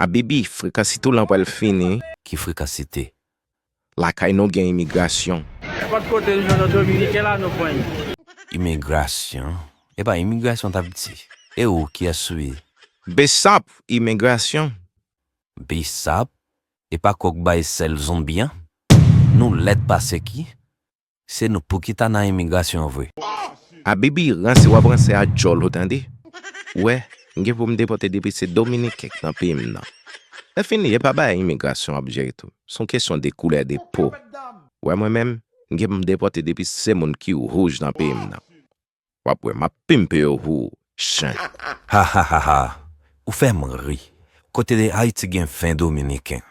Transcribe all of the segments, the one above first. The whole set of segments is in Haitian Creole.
Abibi, frekansite w lan pral fini. Ki frekansite? Lakay nou gen imigrasyon. Nenpòt kote n jwenn yon dominiken la nou pran li. Imigrasyon? Epa imigrasyon t ap di? E ou, kiyès ou ye? Bsap, imigrasyon. Bsap, epa kòk bay sèl zonbi an? Nou lèd pase ki? Se nou pou ki ta nan imigrasyon an vre. Abibi ranse wap ranse a djòl ou tande ou wè m gen pou m depòte depi se dominiken k nan peyi m nan lè fini e pa bagay imigrasyon wap jere tou s on kesyon de koulè de po ou wè mwen menm m gen pou m depòte depi se moun ki wouj nan peyi m nan wap wè map pimpew hoo chen. Hahahaha ou fèm ri kote de ayiti gen 20 dominiken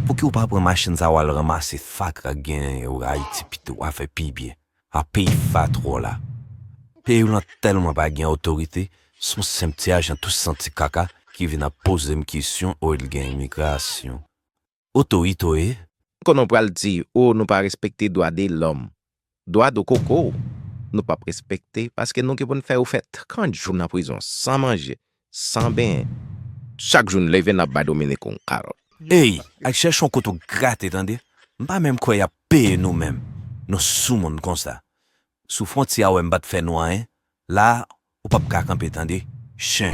pouki ou pa pran machin sa wal ranmase fatra k gen yo ayiti pito wa fè pi byen a peyi fatr w la peyi w lan tèlman pa gen otorite son senp ti ajan tou santi kaka ki vin ap pozem kesyon o l gen imigrasyon otoritoe. Konnen w pral di oo nou pa respekte dwa de lòm. Dwa do koko w nou pap respekte paske nou gen pou n fè ou fè 30 jou nan prizon san manje, san benyen. Chak jou n leve n ap bay Dominique yon kalòt. Ey al chèche yon kote w grate tande. M pa menm kwè y ap peye nou menm. Nou soumoun konsa. Sou fwontyè a wè m pa t fè nou anyen. La Ou pap ka kanpe tande chen.